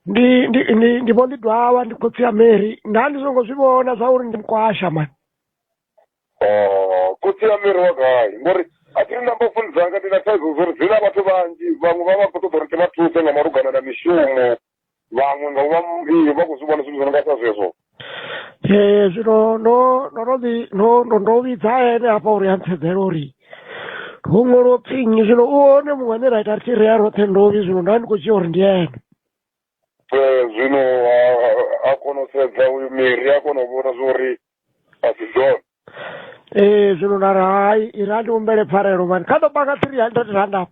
ndi ndi ndi ndi vho ndi dwawa ndi khotsi ya mary nda ndi songo zwi vhona zwa uri ndi mkwasha mani Oh, khotsi ya miri wa gai ngori a thi ri na mbofuni dzanga ndi na thaidzo zwo ri dzina vhathu vhanzhi vhaṅwe vha vha khou ṱoḓa uri ti vha thuse nga malugana na mishumo vhaṅwe nga u vha m- ee, vha khou zwi vhona zwithu zwi no nga sa zwezwo Ee zwino ndo ndo no ḓi ndo ndo ndo vhidza ene hafha uri a ntsedzela uri ho ṅwaliwa upfhi nnyi zwino u hone muṅwe ane ra ita ri tshi ri ya roṱhe ndovhi zwino nda ndi khou dzhia uri ndi ene Eh, zwino a- a- a kona u sedza uyu miri a kona u vhona zwori a si dzone ee zwino nda ri hai iri a ndi humbele pfarelo mani kha ḓo panga three hundred rand afho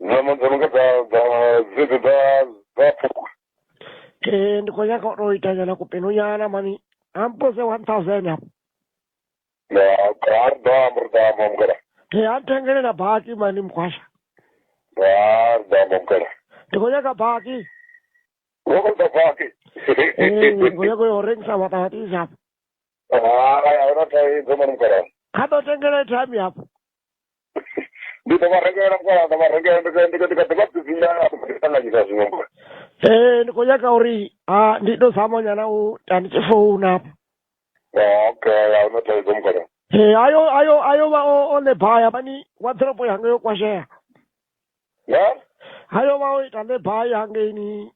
Nyama dzo no nga dza dza dzedzo dza dza phukhu. Eh ndi khou nyanga u tou ita nyana kupenu nyana mani. Ampose 1000 hapo. Na ka da mur da mam gara. Eh antengele na baki mani mkwasha. Da da mam gara. Ndi khou nyanga baki. Wo ko da baki. Eh ndi khou nyanga u rengisa maṱamaṱisi hapo. Ah, ya ora tai dzo mam gara. Kha ḓo tengele thami hapo. ndi ḓo vha rengela mukala ḓo vha rengela ndi ndi ndi ḓo vha bvisina ṱanganyisa zwiṅwe mbo ee ndi khou nyaga uri ha ndi ndo zama nyana u ta ndi tshi founa apa okay a huna thaidzo mukala ee ayo ayo ayo vha o o lebaya mani waḓoropo yanga yo kwashea ya ayo vha o ita lebaya hangeini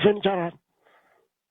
fenitsharani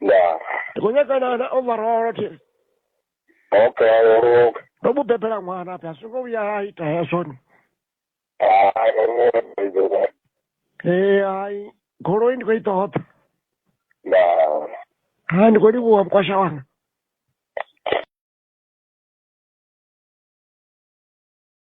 ndaa ndi khou nyagana na overall thi okay oruka ndo mu bebela ṅwana phi a zwi ngo vhuya a ita hezwo ni hai oruka idoa ee hai goloi ndi khou i ṱoḓa ndaa hai ndi khou livhuwa mukwasha wanga